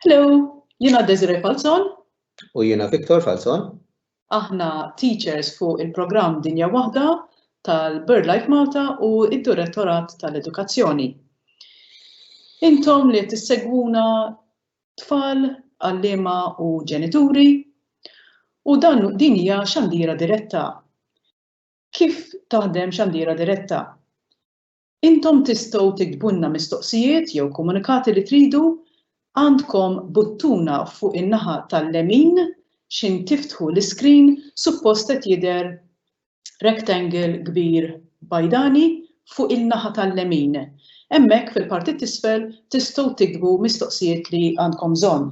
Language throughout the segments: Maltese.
Hello, jiena Desiree Falzon. U jiena Victor Falzon. Aħna teachers fuq il-programm Dinja Waħda tal-BirdLife Malta u id-Direttorat tal-Edukazzjoni. Intom li tissegwuna tfal, għallima u ġenituri u dan din hija xandira diretta. Kif taħdem xandiera diretta? Intom tistgħu tiktbulna mistoqsijiet jew komunikati li tridu, għandkom buttuna fuq in-naħa tal-lemin x'in tiftħu l-iskrin suppost qed jidher rectangle kbir bajdani fuq il-naħa tal-lemin. Hemmhekk fil-parti t'isfel tistgħu tiktbu mistoqsijiet li għandkom bżonn.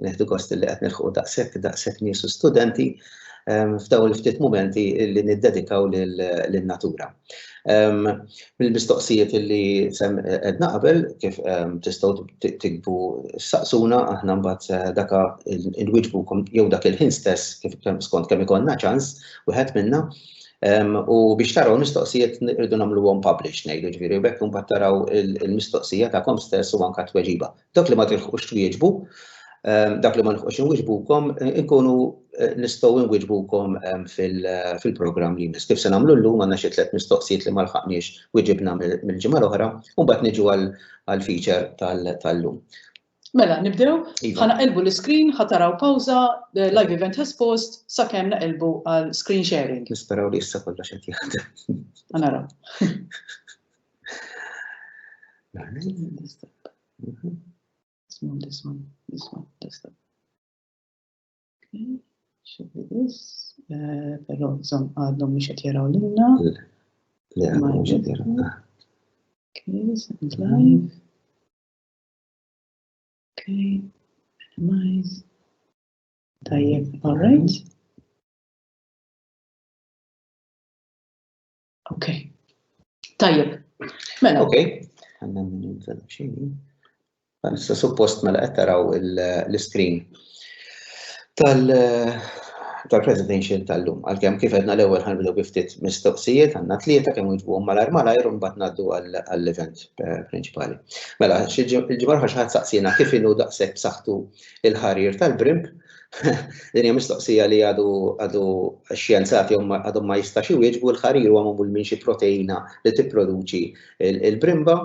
Neħdu gost li qed nilħqu daqshekk daqshekk nies u studenti f'dawn il-ftit mumenti li niddedikaw lin-natura. Mill-mistoqsijiet li qedna qabel kif tistgħu tikbu saqsuna aħna mbagħad daka inwiġbukom jew dak il-ħin stess kif skont kemm ikollna ċans wieħed minna U biex taraw mistoqsijiet irridu nagħmluhom publish ngħidu ġifieri u bekk imbagħad taraw il-mistoqsija tagħkom stess u anke tweġiba. Dak li ma tilħqux twieġbu, dak li ma nħuqx inwiġbukom, inkunu eh, nistgħu nwiġbukom fil-programm li jmiss. Kif se nagħmlu llum għandna xi tliet mistoqsijiet li ma lħaqniex wiġibna mill-ġimgħa l-oħra, u mbagħad niġu għall-feature tal-lum. Mela, nibdew? Iva. Ħa naqilbu l-iskrin, ħa taraw pawża, the live event has paused, sakemm naqilbu għal screen sharing. Nisperaw li issa kollox qed jaħdem. Ħa naraw. This one, this one, this one, this one. Okay, should be this. Eh, Però żomm għadhom mhux qed jaraw lilna. Le, Ma mhux qed jaraw. jidher. Okay, second live. Okay, minimize. Tajjeb, all right. Okay. Tajjeb. Mela. Okay. Għanna minn Issa suppost mela qed taraw l-screen. tal-presidential tal-lum. Għalkemm kif għedna l-ewwel ħanbdew bi ftit mistoqsijiet għandna tlieta kemm wieġbuhom malajr malajr u mbagħad ngħaddu għall-event eh, prinċipali. Mela, il-ġimgħa ħax ħadd saqsina kif inhu daqshekk b'saħħtu il-ħarir tal-brimp Din hija mistoqsija li għadu għadu xjenzati għadhom ma jistax iwieġbu l-ħarir huwa magħmul minn xi proteina li tipproduċi Il-brimba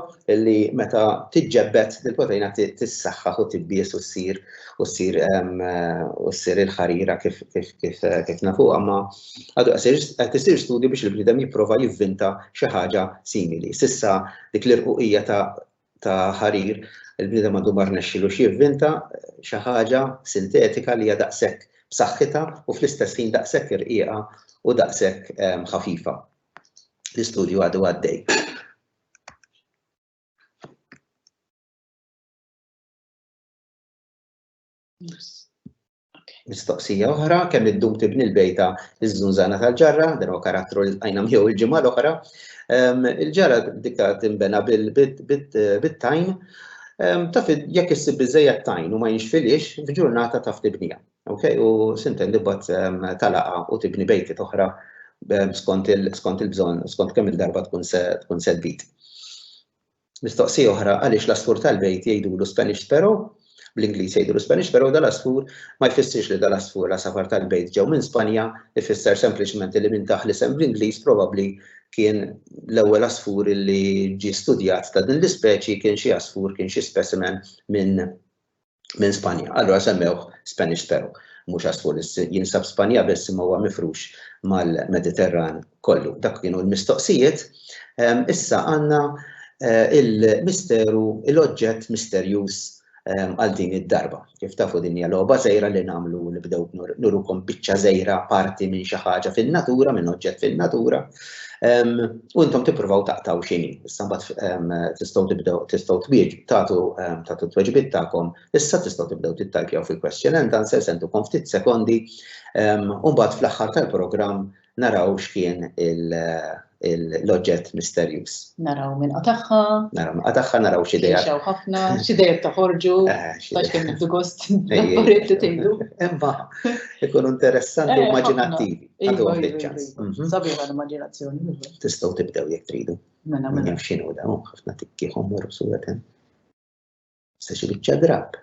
li meta tiġġebbed il-proteina tissaħħaħ u tibbies u ssir u ssir u ssir il-ħarira kif kif kif kif nafuha ma għadu qed isir studju biex il-bniedem jipprova jivvinta xi ħaġa simili. Sissa dik l-irquqija ta' ta' ħarir il-bniedem għandu ma rnexxilu xi jivvinta xi ħaġa sintetika li hija daqshekk b'saħħitha u fl-istess ħin daqshekk irqiqa u daqshekk ħafifa. L-istudju għadu għaddej. Mistoqsija oħra, kemm id-dum tibni l-bejta iż-żunżana tal-ġarra, dan huwa karattru li tqajna miegħu l-ġimgħa l-oħra. Ehm, il-ġarra dikta timbena bit-tajn, ehm, taf jekk issib biżejjed tajn u ma jinxfilix, f'ġurnata taf tibnija. Ok, u sinten li bat talaqa u tibni bejti toħra skont il-bżonn, skont kemm il-darba tkun se tkun se tbid. Mistoqsija oħra, għaliex l-asfur tal-bejt jgħidulu Spanish sparrow, bl-Ingliż jgħidulu Spanish sparrow, dal-asfur ma jfissirx li dal-asfur l-għasafar tal-bejt ġew minn Spanja, ifisser sempliċement li minn daħ l-isem bl-Ingliż probabbli kien l-ewwel asfur li ġie studjat ta' din l-ispeċi kien xi asfur kien xi specimen minn minn Spanja. Allura semmewh Spanish Peru, mhux għasfur jinsab Spanja biss imma huwa mifrux mal-Mediterran kollu. Dak kienu l-mistoqsijiet. Ehm, issa għandna eh, il-misteru, l-oġġett misterjuż ehm, għal din id-darba. Kif tafu din hija logħba żejra li nagħmlu li bdew nurukom biċċa żejra parti minn xi ħaġa fin-natura, minn oġġett fin-natura, U intom tippruvaw taqtaw xini, issa mbagħad tistgħu tibdew tistgħu twieġ tagħtu tagħtu tweġibiet tagħkom, issa tistgħu tibdew tittajpjaw fil-question and answer sentukom ftit sekondi, u mbagħad fl-aħħar tal-programm naraw x'kien l-oġġett misterjuż. Naraw minn qatagħha. Naraw minn qatagħha, naraw xi dejja. Xew ħafna, xi dejja toħorġu, għax kemm tgħidu. Imma ikunu interessanti u immaġinattivi. Iva, iva, iva. Sabiħa l-immaginazzjoni. Tistgħu tibdew jekk tridu. Mela, mela. X'inhu dawn ħafna tikkieħom morru suwetem. Se xi biċċa drab.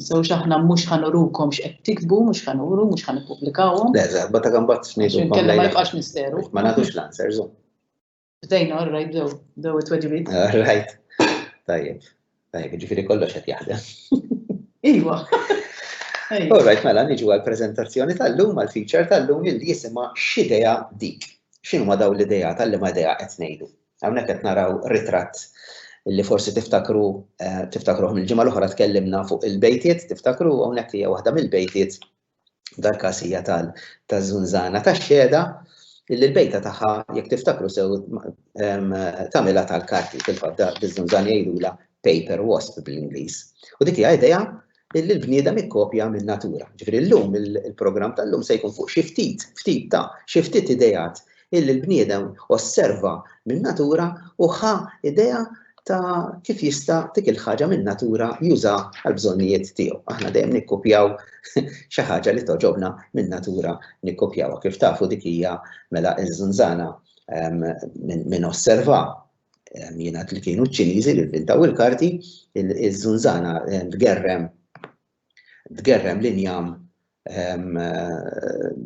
So xaħna mhux ħanurukom x'qed tikbu, mhux ħanuru, mhux ħanippubblikaw. Le, żgħar, bata kambat ngħidu. Kellha ma jibqax misteru. Ma nagħtux l-answers. Bdejna, all right, bdew, bdew it-tweġibiet. All right. Tajjeb. Tajjeb, ġifiri kollox qed jaħdem. Iwa. All right, mela niġu għal prezentazzjoni tal-lum għal feature tal-lum li jisima x'idea dik. X'inhu ma daw l-idea tal-li ma idea qed ngħidu. Hawnhekk qed naraw ritratt li forsi tiftakru eh, tiftakruhom il-ġimgħa l-oħra tkellimna fuq il-bejtiet, tiftakru hawnhekk hija waħda mill-bejtiet dal-każ hija tal taż-żunżana tax-xehda illi l-bejta tagħha jekk tiftakru sew ehm, tagħmilha tal-karti fil-fadda biż-żunżan jgħidulha paper wasp bl-Ingliż. U dik hija idea illi l-bniedem ikkopja minn natura. Ġifieri llum il-programm tal-lum se jkun fuq xi ftit, ftit ta' xi ftit ideat illi l-bniedem osserva min-natura u ħa idea ta' kif jista' dik il-ħaġa min-natura juża għall-bżonnijiet tiegħu. Aħna dejjem nikkupjaw xi ħaġa li toġobna min-natura nikkupjawha. Kif tafu dik hija mela iż-żunżana ehm, minn osserva ehm, jiena li kienu ċ-Ċiniżi li inventaw il-karti, iż-żunżana ehm, tgerrem tgerrem l-injam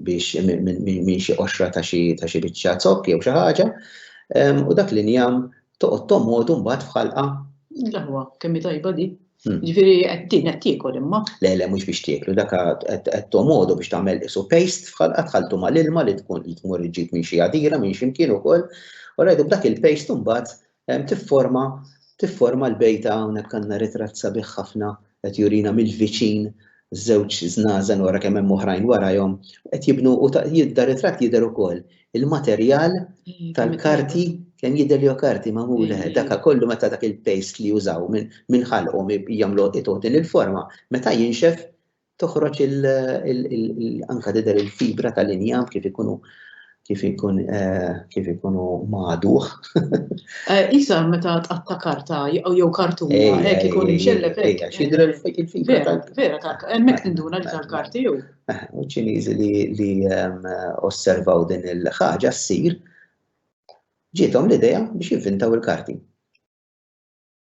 biex minn xi qoxra ta' xi biċċa zokk jew xi ħaġa u dak l-injam toqgħod tomodu mbagħad f'ħalqa. L-aħwa kemm hi tajba di. Hmm. Ġifieri qed din qed tiekol imma. Le le mhux biex tieklu dak qed tomodu biex tagħmel isu paste f'ħalqa tħaltu mal-ilma li tkun li tmur iġġib minn xi għadira minn xi mkien ukoll u rajdu b'dak il-paste mbagħad Tifforma tifforma l-bejta hawnhekk għandna ritratt sabiħ ħafna qed jurina mill-viċin żewġ żnażen wara kemm hemm oħrajn warajhom qed jibnu u jidda ritratt jidher ukoll il-materjal tal-karti kemm jidher li karti magħmul dak kollu meta dak il-paste li jużaw minn ħalqhom jagħmlu itotin il-forma meta jinxef toħroġ anka tidher il-fibra tal-injam kif ikunu kif ikun eh, kif ikunu maduħ. Eh, Isa meta tqatta karta jew kartuna eh, hekk ikun imxellef hekk. Xidra il-fibra tal Vera tal hemmhekk tinduna li tal-karti jew. U ċiniżi li ehm, osservaw din il-ħaġa ssir ġietom l-idea biex jivvintaw il-karti.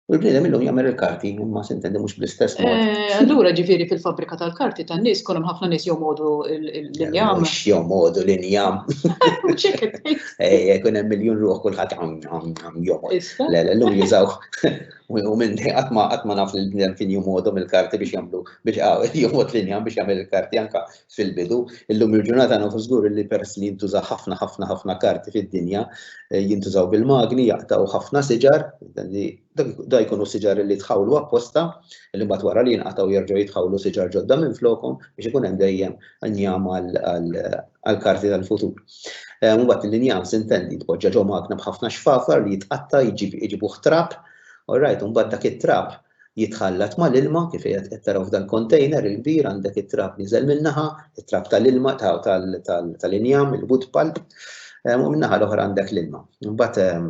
U l-bniedem illum jagħmel il-karti, imma sintendi mhux bl-istess mod. Eh, allura ġifieri fil-fabrika tal-karti tan-nies kol hemm ħafna nies jomodu l-injam. Mhux jomodu l-injam. Ejja, jkun hemm miljun ruħ kulħadd jomod. Le, le, llum jużaw. U minn qatt ma qatt ma naf li l-bniedem kien jomodu mill-karti biex jagħmlu biex jomod l-injam biex jagħmel il-karti anka fil-bidu. Illum il-ġurnata nafu żgur li peress li jintuża ħafna ħafna ħafna karti fid-dinja, eh, jintużaw bil-magni, jaqtaw ħafna siġar, da jkunu siġar li tħawlu apposta, li mbagħad wara li jinqataw jerġgħu jitħawlu siġar ġodda minn flokom biex ikun hemm dejjem njam għall-karti tal-futur. Eh, mbagħad l-injam sintendi tpoġġa ġo magna b'ħafna xfafar li jitqatta jġibu ħtrab, all right, mbagħad dak it-trab jitħallat mal-ilma, kif qiegħed qed taraw f'dan container il-kbir għandek it-trab niżel min-naħa, it-trab tal-ilma tal-injam, il-wood pulp, u min-naħa l-oħra għandek l-ilma. Mbagħad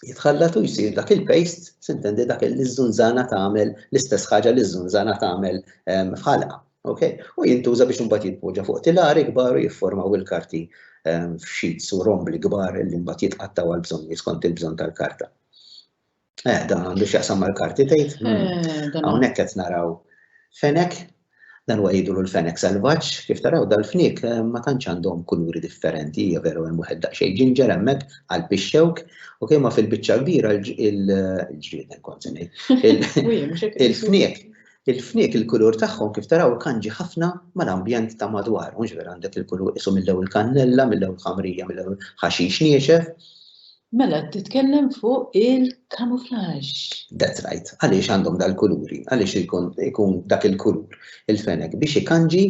jitħallat u jsir dak il-paste, sintendi dak il-żunżana tagħmel l-istess ħaġa li ż-żunżana tagħmel f'ħalqa. Okay? U jintuża biex imbagħad jitpoġġa fuq tilari kbar u jifformaw il-karti f'xits u rombli kbar li mbagħad jitqattaw għal bżonn skont il-bżonn tal-karta. Eh, dan għandu x'jaqsam mal-karti tgħid. Eh, hmm. Hawnhekk qed naraw fenek, dan huwa jgħidu l-fenek selvaġġ, kif taraw dal-fnik eh, ma tantx għandhom kuluri differenti, hija veru hemm wieħed daqsxejn ġinġer hemmhekk għal pixxewk, u kemm fil-biċċa kbira l-ġrieden kont il-fnik il-fnik il-kulur tagħhom kif taraw kanġi ħafna mal-ambjent ta' madwar, mhux vera għandek il-kulur isu mill-ewwel kannella, mill-ewwel ħamrija, mill-ewwel ħaxix niexef. Mela qed titkellem fuq il-camouflage. That's right. Għaliex għandhom dal-kuluri? Għaliex ikun dak il-kulur il-fenek biex ikanġi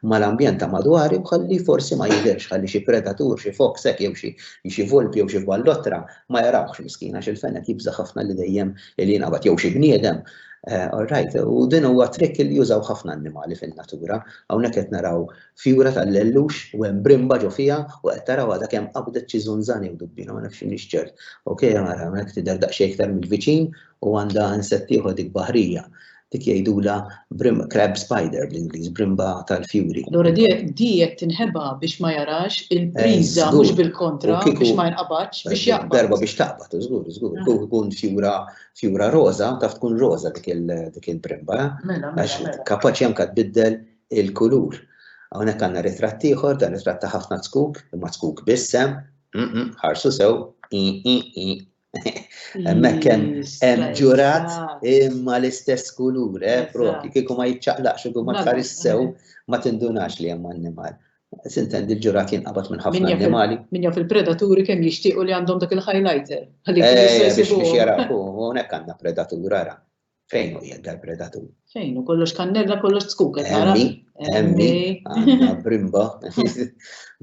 mal-ambjent ta' madwar u ħalli forsi ma jidhirx, ħalli xi predatur, xi fox hekk jew xi xi volpi jew xi vallottra ma jarawhx miskin għax il-fenek jibża' ħafna li dejjem li jingħabad jew xi bniedem. All right, u din huwa trick li jużaw ħafna annimali fin-natura. Hawnhekk qed naraw Fjura tal-lellux u hemm brimba ġo fiha u qed taraw għadha kemm qabdet xi żunżan jew dubbiena ma nafx m'iniex ċert. Ok ara hemmhekk tidher daqsxejn iktar mill-viċin u għandha insett ieħor dik baħrija. Dik jgħidulha brimba crab spider bl-Ingliż, brimba tal-fjuri. Allura di qed tinħeba biex ma jarax il-priża mhux bil-kontra biex ma jinqabadx biex jaqbad. Darba biex taqbad, żgur, żgur. Kieku tkun fjura fjura roża taf tkun roża dik il-brimba. Mela, mela. Għax kapaċi anke tbiddel il-kulur. Hawnhekk għandna ritratt ieħor, dan ritratt ta' ħafna tkuk, imma tkuk b'isem, ħarsu sew, Hemmhekk hemm ġurat imma l-istess kulur, eh, propri, kieku ma jiċċaqlaqx u ma tħares sew ma tindunax li hemm annimal. Sintendi l-ġurat jinqabad minn ħafna annimali. Min jaf il-predaturi kemm jixtiequ li għandhom dak il-highlighter. Eh, biex jaraw, hawnhekk għandna predatura ra. Fejn u jien tal-predatur? Fejn u kollox kannella, kollox tskuk, għara? Emmi, għanna brimba,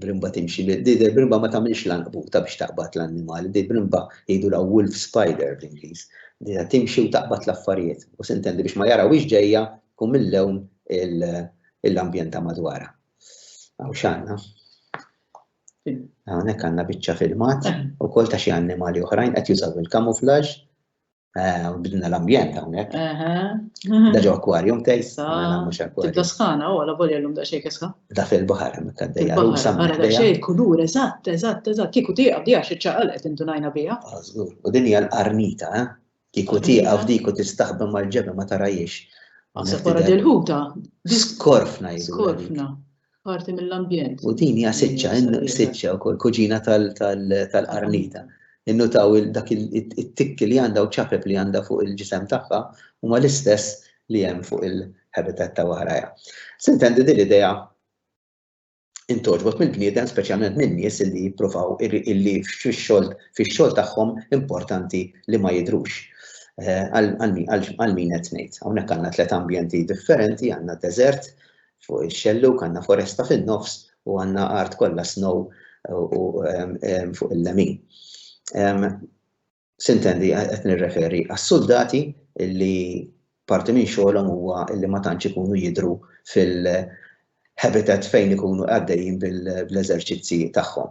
brimba timxi, di brimba ma tamilx lanqbuta biex taqbat l-annimali, di brimba jidu la wolf spider bl-Inglis, di timxi u taqbat l-affarijiet, u sintendi biex ma jaraw ġeja kum mill-lewn l-ambjenta madwara. Għaw xanna? Għawnek għanna bicċa filmat, eh. u kol ta' xie annimali uħrajn, għet jużaw il-kamuflaġ, Eh, bidna l-ambjent hawnhekk. Da ġo aquarium tej. Tibda skana, u għala volja l-lum da xejk iska. Da fil-bahar hemmhekk għaddejja. Għara da xejk kulur, eżatt, eżatt, eżatt. Kiku tieqa bdija xi ċaqalet indunajna bija. Ah, żgur. U din hija l-qarnita, eh? Kiku tieqa f'dik u tistaħbem mal-ġebel ma tarajiex. Għasab wara dil-ħuta. Skorfna jgħidu. Skorfna. parti mill-ambjent. U din hija siċċa, siċċa wkoll kuġina tal-qarnita. Innutaw dak it-tikk li għandha u ċapep li għandha fuq il-ġisem tagħha huma l-istess li hemm fuq il-habitat ta' waħraja. Sintendi din l-idea intoġbot mill-bniedem speċjalment minn nies li jippruvaw illi fix-xogħol fix-xogħol tagħhom importanti li ma jidrux. Eh, għal min qed ngħid. Hawnhekk għandna tliet ambjenti differenti, għandna deżert, fuq ix-xellug għandna foresta fin-nofs u għandna art kollha snow u fuq il-lemin. Sintendi qed nirreferi għas-suldati li parti minn xogħolhom huwa li ma tantx ikunu jidhru fil-habitat fejn ikunu għaddejjin bl-eżerċizzji tagħhom.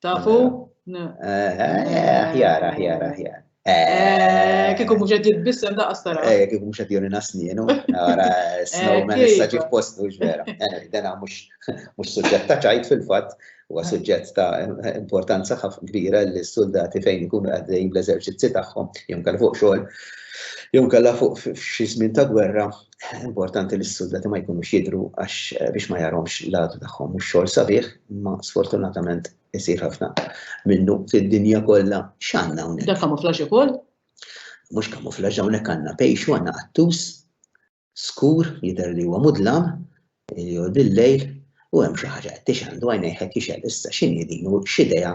Tafu? Aħjar, aħjar, aħjar. Eh, kiku mux għed jitbissem da għastara. Eh, kiku mux għed joni nasninu, għara eh, snowman issa ġif postu ġvera. Eh, dena mux suġġett ta' ċajt fil-fat, u suġġett ta' importanza ħaf kbira li s-soldati fejn ikunu għaddejn bl-eżerċizzi tagħhom, jom kal fuq xogħol, jom kalla fuq xi żmien ta' gwerra, Importanti li s-suldati ma jkunux jidru għax eh, biex ma jaromx l-għadu tagħhom mhux xogħol sabiħ, ma sfortunatament isir ħafna minnu fid-dinja kollha x'għandna hawnhekk. Da kamuflaġġ ukoll? Mhux kamuflaġġ hawnhekk għandna pejxu għandna qattus skur jidher li huwa mudlam Ilhu dil-lejl u hemm xi ħaġa qed tixgħel għajnejh qed jixgħel issa x'inhi din u x'idea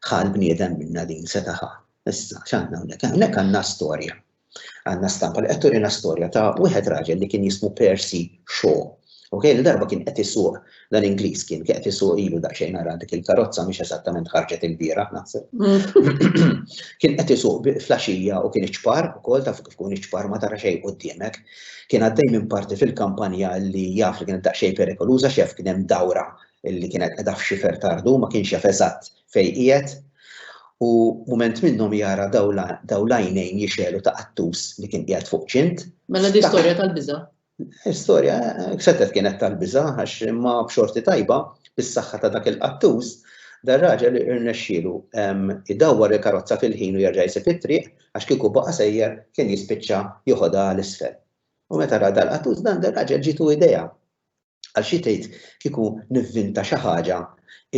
ħa l-bniedem minnha din seta' ħa. Issa x'għandna hawnhekk? Hawnhekk għandna storja. Għandna stampa li qed turina storja ta' wieħed raġel li kien jismu Percy Shaw. Ok, li darba kien qed isuq dan Ingliż kien qed isuq ilu daqsxejn ara dik il-karozza mhix eżattament ħarġet il-bieraħ naħseb. Kien qed isuq fl-għaxija u kien iċpar ukoll taf kif ikun iċpar ma tara xejn quddiemek. Kien għaddej minn parti fil-kampanja li jaf li kienet daqsxejn perikoluża x'jaf kien hemm dawra li kienet qiegħda f'xifer tardu ma kienx jaf eżatt fejn qiegħed u mument minnhom jara dawl għajnejn jixgħelu ta' qattus li kien qiegħed fuq ċint. Mela di storja tal-biża'. Storja setgħet kienet tal-biża' għax imma b'xorti tajba bis-saħħa ta' dak il-qattus dar-raġel irnexxielu idawwar il-karozza fil-ħin u jerġa' jsib it-triq Għax kieku baqa' sejjer kien jispiċċa joħodha għal isfel. U meta ra dal qattus dan dar-raġel ġietu idea. Għal xi tgħid kieku nivvinta xi ħaġa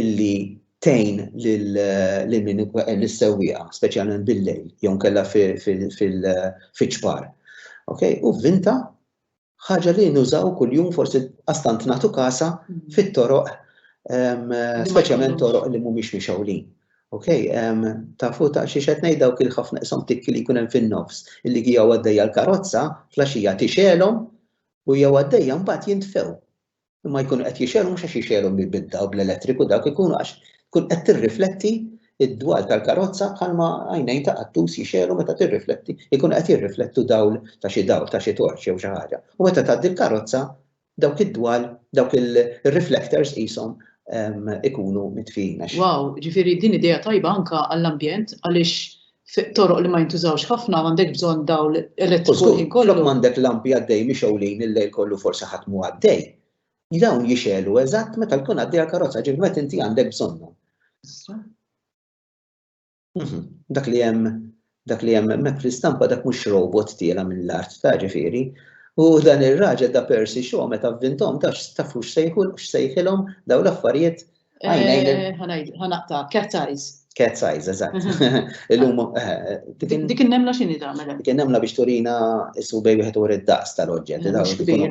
illi tgħin lil min ikun lis-sewwieqa, speċjalment bil-lejl jew inkella fiċ-ċpar. Okej, u vvinta Ħaġa li nużaw kuljum forsi qas tant nagħtu kasha fit-toroq speċjalment toroq li mhumiex mixewlin. Okay, um, tafu ta' xi xed ngħid dawk il-ħafna isom tikki li jkun hemm fin-nofs illi hija għaddejja l-karozza flaxija tixelhom u jew għaddejja mbagħad jintfew. Imma jkunu qed jixegħlu mhux għax jixegħlu bil-bidda u bl-elettriku dawk ikunu għax tkun qed tirrifletti id-dwal tal-karozza bħalma għajnejn ta' qattus jixegħlu meta tirrifletti, ikunu qed jirriflettu dawl ta' xi dawl, ta' xi torċ jew xi ħaġa. U meta tgħaddi l-karozza dawk id-dwal, dawk ir-reflectors qishom ikunu mitfijin. Wow, ġifieri din idea tajba anke għall-ambjent għaliex toroq li ma jintużawx ħafna għandek bżonn dawl elettriku ħin kollu. Flok m'għandek lampi għaddej mixewlin il-lejl kollu forsi ħadd mu għaddej. Dawn jixelu eżatt meta tkun għaddej għall-karozza ġifieri meta inti għandek bżonnhom. Mhm. Dak li hemm dak li hemm hemmhekk fl-istampa dak mhux robot tiela mill-art ta' ġifieri. U dan ir-raġel ta' Percy Shaw meta vvintom ta' tafux sejħu x'sejħilhom dawn l-affarijiet Ħanaqta, cat size. Cat size, eżatt. Illum. Dik il-nemla xini ta' mela? Dik il-nemla biex turina issu bej wieħed u id-daqs tal-oġġett.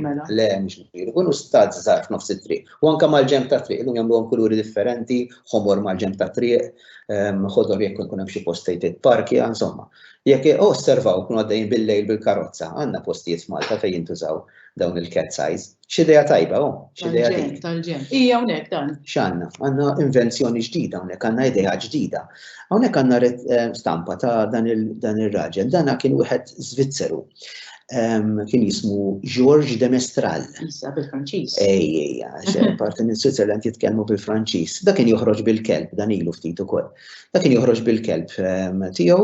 Mela. Le, mux kbir. Kunu stad zarf nofs it-triq. U anka mal-ġemp ta' triq, illum jagħmluhom kuluri differenti, ħomor mal-ġemp ta' triq, ħodor jekk ikun hemm xi post fejn titparkja, insomma. Jekk osservaw kunu għaddejjin bil-lejl bil-karozza, għandna postijiet f'Malta fejn jintużaw dawn il-cat size. X'idea tajba, oh, x'idea tajba. Tal-ġen, hija hawnhekk dan. X'għandna? Għandna invenzjoni ġdida hawnhekk, għandna idea ġdida. Hawnhekk għandna eh, stampa ta' dan ir-raġel, dana kien wieħed Zvizzeru. Ehm, kien jismu George de Mestral. Issa bil-Franċiż. Ej, ej, għax parti minn Switzerland jitkellmu bil-Franċiż. Da kien joħroġ bil-kelb, dan ilu ftit ukoll. Da kien joħroġ bil-kelb ehm, tiegħu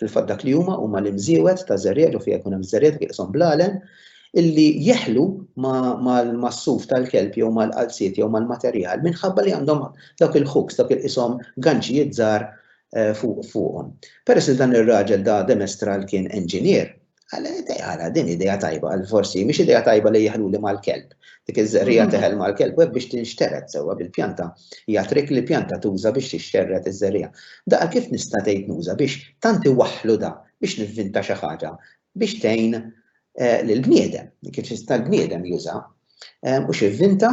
Fil-fatt dak li huma huma l-imżiewed ta' żerriegħa ġo fiha jkun hemm żerriegħa tieqshom bl-għalem illi jeħlu mas-suf tal-kelb jew mal-qalziet jew mal-materjal minħabba li għandhom dawk il-hooks, dawk li qishom ganċijiet żgħar fuqhom. Peress li dan ir-raġel da Demestra l kien enġinier, Għala, din ideja tajba, għal forsi, miex ideja tajba li jihlu li mal-kelb. Dik iż-żerrija mhm. teħel mal-kelb, għek biex tinxterret sewa bil-pjanta. Hija trik li pjanta tuża biex tixterret iż-żerrija. Daqa kif nista' tgħid nuża biex tanti waħlu da biex nivvinta xi ħaġa biex tgħin eh, lill-bniedem, kif tista' l-bniedem juża. Eh, u xi vvinta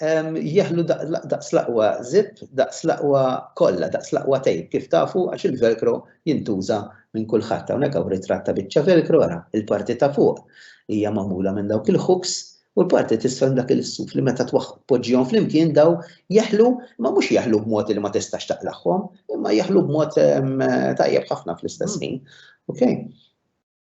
jeħlu daqs l-aqwa zip, daqs l-aqwa kollha, daqs l-aqwa tejp, kif tafu għax il-velcro jintuża minn kulħadd. Hawnhekk hawn ritratt ta' biċċa velcro ara, il-parti ta' fuq hija magħmula minn dawk il-hooks u l-parti tisfel dak il-suf li meta tpoġġihom flimkien daw jeħlu ma mhux jeħlu b'mod li ma tistax taqlagħhom, imma jeħlu b'mod tajjeb ħafna fl-istess ħin. Okay?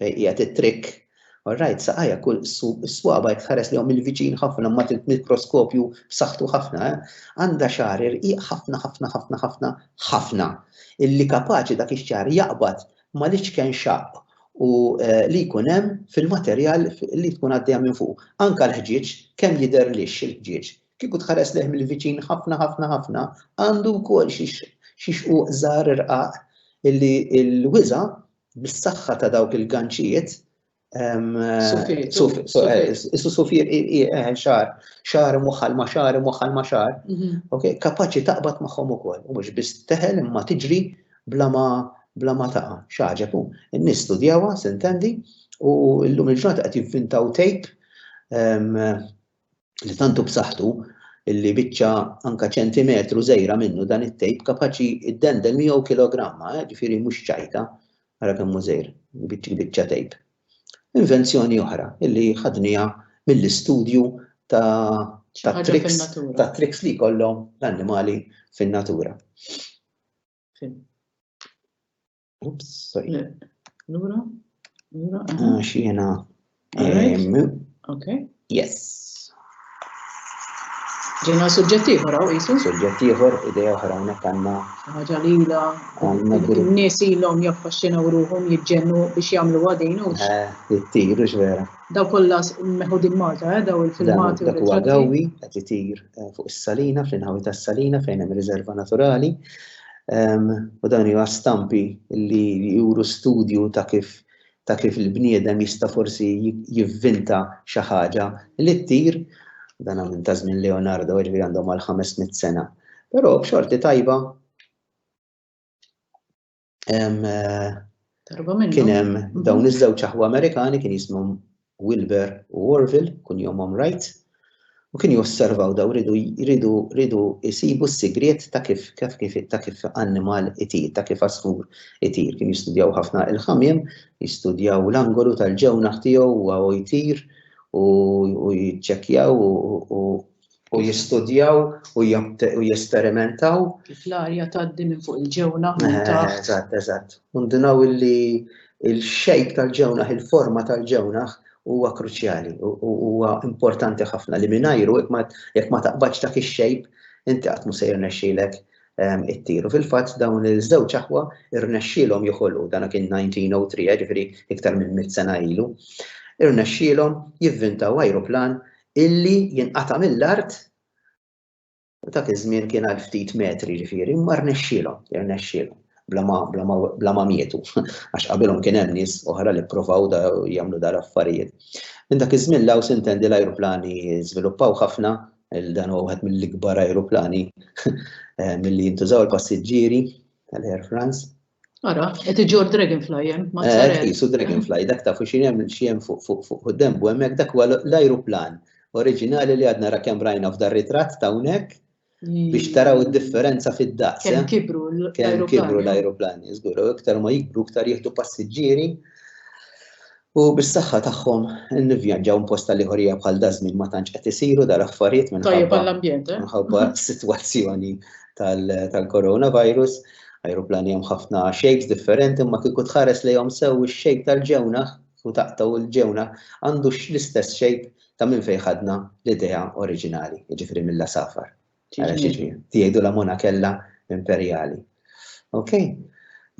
Fejn qiegħed it-trikk? Orrajt, saqajja kull is-swaba' jekk tħares lejhom mill-viċin ħafna ma' mikroskopju b'saħħtu ħafna, eh? Għandha xagħar irqiq ħafna ħafna ħafna ħafna ħafna illi kapaċi dak ix-xagħar jaqbad mal-iċken xaqq u li jkun hemm fil-materjal li tkun għaddejja minn fuq. Anke l-ħġieġ kemm jidher lixx il-ħġieġ. Kieku tħares lejh mill-viċin ħafna ħafna ħafna għandu wkoll xi xquq żgħar irqaq illi l-wiża' bis-saħħa ta' dawk il-ganċijiet Is-susufir xar, xar moħħal ma xar, moħħal ma xar, kapaċi taqbad magħhom ukoll. U mhux biss teħel imma tiġri bla ma bla ma taqa' xaġeb. In-nies studjawha, sintendi, u llum il-ġurnata qed jivvintaw tejp li tant hu b'saħħtu illi biċċa anke ċentimetru żgħira minnu dan it-tejp kapaċi ddendel miegħu kilogramma, eh, ġifieri mhux ċajta, ara kemm hu żgħir, biċċa tejp. Invenzjoni oħra illi ħadnija mill-istudju ta' triks ta' triks li jkollhom l-annimali fin-natura. Ups, sorry. Lura, lura. Għax jena. Ok. Yes. Ġena suġġett ieħor hawn qisu. Suġġett ieħor idea oħra hawnhekk għandna. Ħaġa lila. Nies ilhom jaffaxxinaw ruhom jiġġennu biex jagħmlu għadin u. Eh, jittiru x'vera. Daw kollha meħudin Malta, eh, daw il-filmati. Dak huwa qed itir eh, fuq is-salina, fl-inħawi tas-salina fejn hemm riserva naturali. u dawn hija stampi li juru studju ta' kif ta' kif il-bniedem jista' forsi jivvinta xi ħaġa li ttir, dan minn ta' żmien Leonardo ġifieri għandhom għal 500 sena. Però b'xorti tajba eh, kien hemm dawn iż-żewġ aħwa Amerikani kien jismhom Wilber u Orville, kunjomhom Wright, u kienu josservaw daw jridu jridu jsibu s-sigriet ta' kif ta' kif ta' kif annimal itir, ta' kif għasfur itir. Kienu jistudjaw ħafna il-ħamiem, jistudjaw l-angolu tal-ġewnaħ tiegħu huwa u jtir u u jiċċekkjaw u u u jistudjaw u jesperimentaw. Kif l-arja tgħaddi minn fuq il-ġewna minn eh, taħt. Eżatt, eżatt. Undinaw illi il-xejk tal-ġewna, il-forma tal-ġewna huwa kruċjali, huwa importanti ħafna li mingħajru jekk ma taqbadx dak ix-xejp inti qatt mu sejr nexxilek ehm, it-tiru. Fil-fatt dawn iż-żewġ aħwa irnexxielhom joħolqu dan kien 1903, eh, ġifieri iktar minn mit sena ilu. Irnexxielhom jivvintaw ajruplan illi jinqata' mill-art u dak iż-żmien kien għal ftit metri ġifieri, imma rnexxielhom, irnexxielhom bla ma mietu, għax qabilhom kien hemm nies oħra li ppruvaw jagħmlu dan l-affarijiet. Minn dak iż-żmien 'l hawn sintendi l-ajruplani żviluppaw ħafna, dan huwa wieħed mill-ikbar ajruplani milli jintużaw il-passiġġieri tal-Air France. Ara, qed iġor Dragonfly hemm, ma eh, tsarel. Isu Dragonfly, dak tafu xi hemm xi hemm fuq fuq fuq quddem u hemmhekk dak huwa l-ajruplan oriġinali li għadna ra kemm rajna f'dar ritratt ta' hawnhekk mm. biex taraw id-differenza fid-daqs. Kemm eh? kibru l-ajruplani. Kemm kibru l-ajruplani, żgur, iktar ma jikbru iktar jieħdu passiġġieri U bis-saħħa tagħhom nivvjanġaw minn post tal-ieħorija bħal dażmin ma tantx qed isiru dal-affarijiet minħabba eh? s-sitwazzjoni tal-coronavirus. Ajruplani hemm ħafna shapes differenti imma kieku tħares lejhom sew ix-shape tal-ġewna u taqtaw il-ġewna għandu l-istess shape ta' minn fejn ħadna l-idea oriġinali, jiġifieri mill-lasafar. Jgħidu la monakella imperjali. Ok?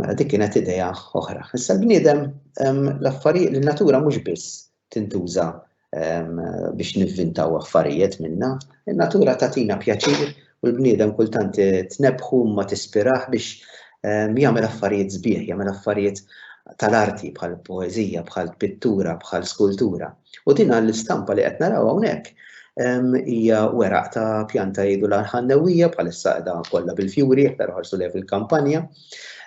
Mela dik kienet idea oħra. Issa l-bniedem l-affarijiet li natura mhux biss tintuża biex nivvintaw affarijiet minna, in-natura tatina pjaċir u l-bniedem kultant tnebħu ma tispiraħ biex jagħmel affarijiet sbieħ, jagħmel affarijiet tal-arti bħal poeżija, bħal pittura, bħal skultura. U din l-istampa li qed naraw hawnhekk hija weraq ta' pjanta jgħidu l-ħannewwija bħalissa qiegħda kollha bil-fjuri jekk taraw ħarsu lejha fil-kampanja.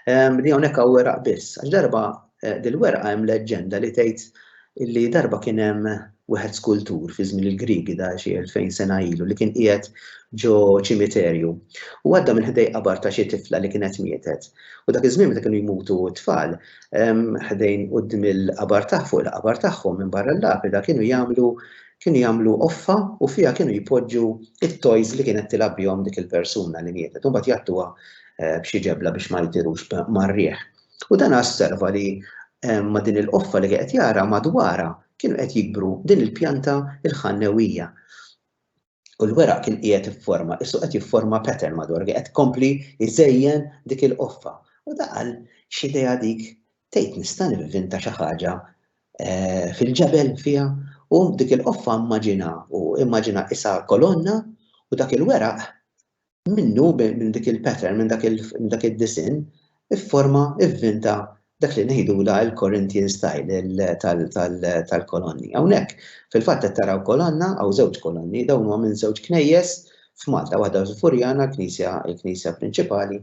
Li hawnhekk hawn weraq biss. Għax darba eh, dil-werqa hemm leġġenda li tgħid li darba kien hemm wieħed skultur fi żmien il-Grigi da xi 2000 sena ilu li kien qiegħed ġo ċimiterju. U għadda minn ħdej qabar ta' xi tifla li kienet mietet. U dak iż-żmien meta kienu jmutu t-tfal, ħdejn qudiem il-qabar tagħ fuq il-qabar tagħhom minn barra l-lapida kienu jagħmlu kienu jagħmlu offa u fiha kienu jpoġġu it-toys li kienet tilgħab bihom dik il-persuna li mietet. Imbagħad jagħtuha eh, b'xi ġebla biex ma jtirux marrieħ. U dan osserva li ma din il-qoffa li qed jara madwara kienu qed jikbru din il-pjanta il-ħannewija. u l-weraq kien qiegħed ifforma, issu qed jifforma pattern madwar qed kompli jżejjen dik il-qoffa. U daqal x'idea dik tgħid nista' nivvinta xi ħaġa eh, fil-ġebel fiha u dik il-qoffa immaġina u immaġina isa kolonna u dak il-weraq Minnu, minn dik il-pattern, minn dak id-disinn, ifforma, ivvinta dak li ngħidulha il-Corinthian style tal-kolonni. Hawnhekk, fil-fatt qed taraw kolonna, hawn żewġ kolonni, dawn huma minn żewġ knejjes f'Malta, waħda l-Furjana, l-knisja prinċipali,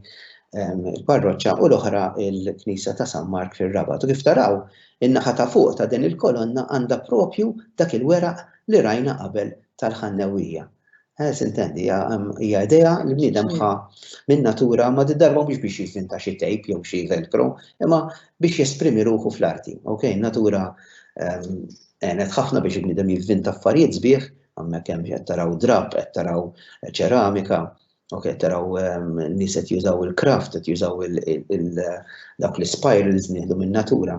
il-parroċċa, u l-oħra l-knisja ta' San Mark fir-Rabat. U kif taraw, in-naħa ta' fuq ta' din il-kolonna għandha proprju dak il-weraq li rajna qabel tal-Ħannewwija. Eh, Sintendi, hija idea li bniedem ħa minn natura ma darba biex biex jifinta xi tejp jew xi velcro, imma biex jesprimi ruħu fl-arti. Ok, natura ehm, għenet ħafna biex bniedem jivvinta affarijiet sbieħ, għammek kem qed taraw drab, qed taraw ċeramika, ok, taraw ehm, nies qed jużaw il-kraft, qed jużaw dak l-spirals nieħdu minn natura.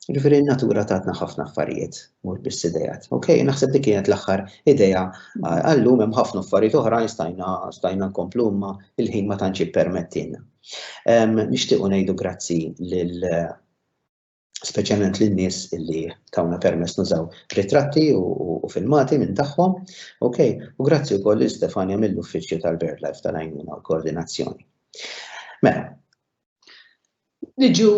Ġifieri n-natura tatna ħafna affarijiet, mhux biss idejat. Ok, naħseb dik kienet l-aħħar idea għallum hemm ħafna affarijiet oħrajn stajna stajna nkomplu imma il-ħin ma tantx ippermettilna. Ehm, nixtiequ ngħidu grazzi lil speċjalment lin nies illi tawna permess nużaw ritratti u filmati minn tagħhom. Ok, u grazzi wkoll lil Stefania mill-uffiċċju tal-BirdLife tal-għajnuna u koordinazzjoni. Mela, Niġu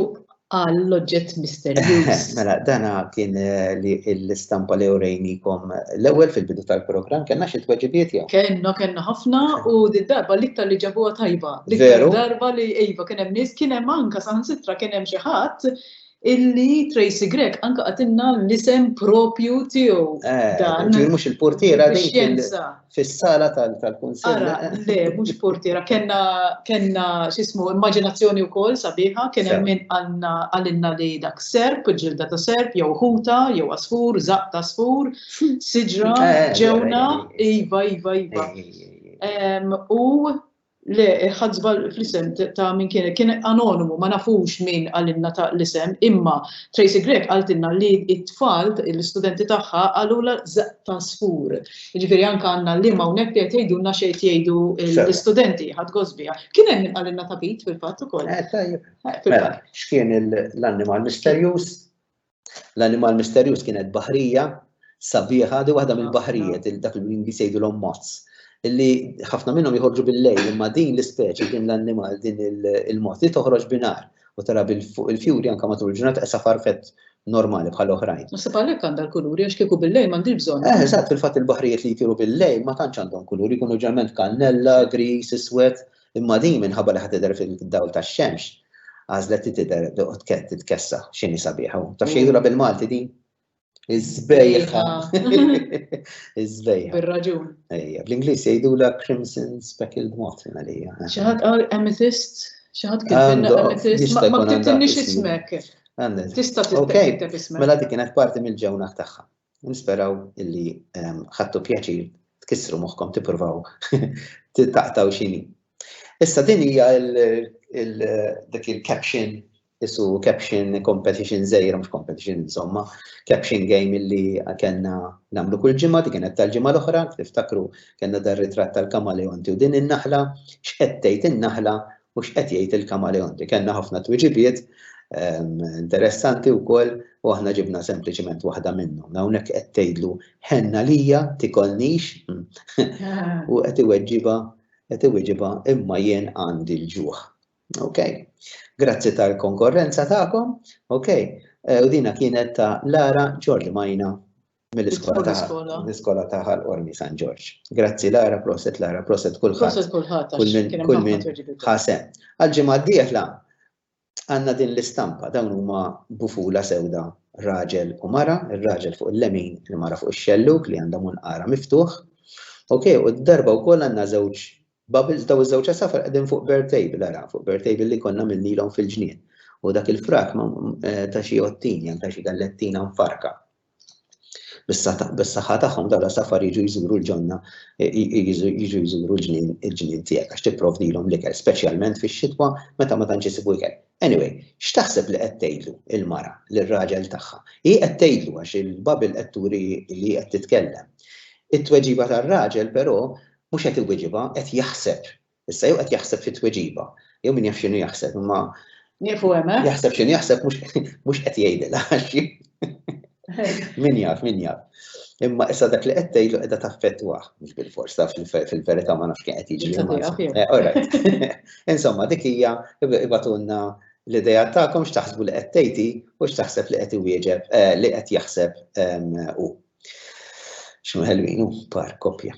għal l-oġġett misterjuż. Mela, dana kien eh, li l-istampa li urejnikom l-ewwel fil-bidu tal-programm kellna xi tweġibiet jew. Kenna kenna ħafna u d-darba l-iktar li ġabuha tajba. Veru. Darba li iva kien hemm nies kien hemm anka saħansitra kien hemm xi ħadd illi Tracy Grech anke qatilna l-isem proprju tiegħu eh, dan. Ġifier mhux il-portiera din fis-sala tal-kunsill. Ara, eh. le, mhux portiera, kellna kellna x'ismu immaġinazzjoni wkoll sabiħa, kien hemm min għalinna li dak serp, ġilda ta' serp, jew ħuta, jew asfur, zaq ta' asfur, siġra, eh, ġewna, iva, iva, iva. U Le, ħadd żball fl-isem ta' min kien, kien anonimu, ma nafux min qalilna ta' l-isem, imma Tracey Grech qaltilna li t-tfal, l-istudenti tagħha qalulha Żaqq ta' Sfur. Jiġifieri anke għandna l-liem hawnhekk li qed jgħidulna xi qed jgħidu l-istudenti, ħadd gost biha. Kien hemm min qalilna Tapit fil-fatt ukoll. Eh tajjeb. Mela, x'kien l-annimal misterjuż? L-animal misterjuż kienet baħrija sabiħa, di waħda mill-baħrijiet, dak l-Ingliż jgħidulhom moths, li ħafna minnhom jħorġu bil-lejl, imma din l-ispeċi, din l-annimal, din il-mod li toħroġ binar u tara fuq il-fjuri anke matul il-ġurnata qesa farfet normali bħal oħrajn. Ma sab għalhekk għandha l-kuluri għax kieku bil-lejl m'għandix bżonn. Eh, eżatt, fil-fatt il-baħrijiet li jtiru bil-lejl ma tantx għandhom kuluri, jkunu ġerment kannella, gris, iswed, Imma din minħabba li ħa tidher fid-dawl tax-xemx, għażlet li tidher titkessa x'inhi sabiħa. Taf xi jgħidulha bil-Malti din? Iż-żbejħa. Iż-żbejħa. Bir-raġun. Ejja, bl-Ingliż jgħidulha crimson speckled moth għalija. Xi ħadd qal amethyst, xi ħadd kien amethyst, ma ktibtilniex ismek. Tista' tikteb ismek. Mela dik kienet parti mill-ġewna tagħha. Nisperaw illi ħadtu pjaċir tkissru moħħkom tippruvaw taqtaw xini. Issa din hija dik il-caption isu caption competition żejra mhux competition insomma, caption game illi kellna nagħmlu kull ġimgħa dik kienet tal-ġimgħa l-oħra, tiftakru kellna dar ritratt tal-kamaleonti u din in-naħla, x'qed tgħid in-naħla u x'qed jgħid il-Kamaleonti. Kellna ħafna twiġibiet ehm, interessanti wkoll u aħna ġibna sempliċement waħda minnhom. Hawnhekk qed tgħidlu ħenna lija tikolnix u qed iweġġiba qed iweġġiba imma jien għandi l-ġuħ. Ok, grazzi tal-konkorrenza tagħkom, ok, eh, u dina kienet ta' Lara Ġorli Majna mill-iskola ta' Ħal Ormi San Ġorġ. Grazzi Lara, proset Lara, proset kulħadd. Kull min ħasem. Għal-ġimgħa d-dieħla għandna din l-istampa dawn huma bufula sewda raġel u mara, ir-raġel fuq il-lemin, il-mara fuq ix-xelluk li għandha munqara miftuħ. Ok, u d-darba wkoll għandna żewġ bubbles daw iż-żewġ għasafar qegħdin fuq bird table ara, fuq bird table li konna minnilhom fil-ġnien. U dak il-frak eh, ta' xi ottin, jan ta' xi gallettina mfarka bis-saħħa tagħhom dawn l-għasafar jiġu jżuru l-ġonna jiġu jżuru l-ġnien il-ġnien tiegħek għax tipprovdilhom l-ikel, speċjalment fix-xitwa meta ma tantx isibu ikel. Anyway, x'taħseb li qed tgħidlu l-mara lir-raġel tagħha? Hi qed tgħidlu għax il-Bible qed turi li hi qed titkellem. It-tweġiba tar-raġel però mhux qed iwiġibha, qed jaħseb Issa jew qed jaħseb fi tweġiba, jew min jaf x'inhu jaħseb, imma Nieqfu hemm, eh? jaħseb x'inhu jaħseb mhux qed jgħidilha għax min jaf, min jaf. Imma issa dak li qed tgħidlu qiegħda taffettwah, mhux bil-fors taf fil-verità ma nafx kien qed jiġri. Eh, Insomma, dik hija ibatulna l-idea tagħkom x'taħsbu li qed tgħidi u x'taħseb li qed iwieġeb eh, li qed jaħseb ehm, u. X'nu ħelwin hu par kopja.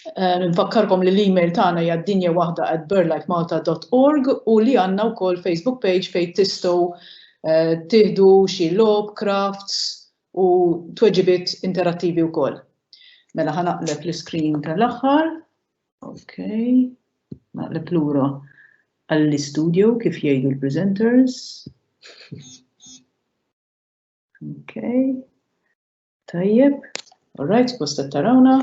Nfakkarkom li l-email tagħna hija dinja waħda at burlightmalta.org u li għandna wkoll Facebook page fejn tistgħu eh, tieħdu xi logħob, crafts u tweġibiet interattivi wkoll. Mela ħanaqleb l-iskrin tal-aħħar. Ok, naqleb lura għall-istudio kif jgħidu l-presenters. Ok. Tajjeb, alright, suppost qed tarawna.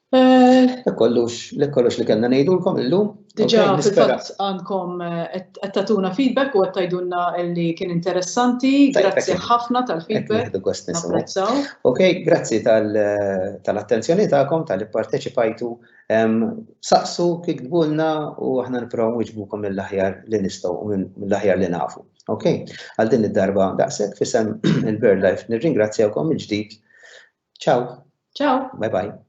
Eh, kollux, li kollux li kellna ngħidulkom illum. Diġà fil-fatt għandkom eh, qed tagħtuna feedback u qed tgħidulna li kien interessanti. Grazzi ħafna tal-feedback. Napprezzaw. Ok, grazzi eh, tal-attenzjoni tagħkom tal-li parteċipajtu. Saqsu kif tbulna u aħna nipprovaw wiġbukom mill-aħjar li nistgħu mill-aħjar li nafu. Ok, għal din id-darba daqshekk fisem il-Bird Life nirringrazzjawkom il-ġdid. Ciao. Ciao. Bye bye.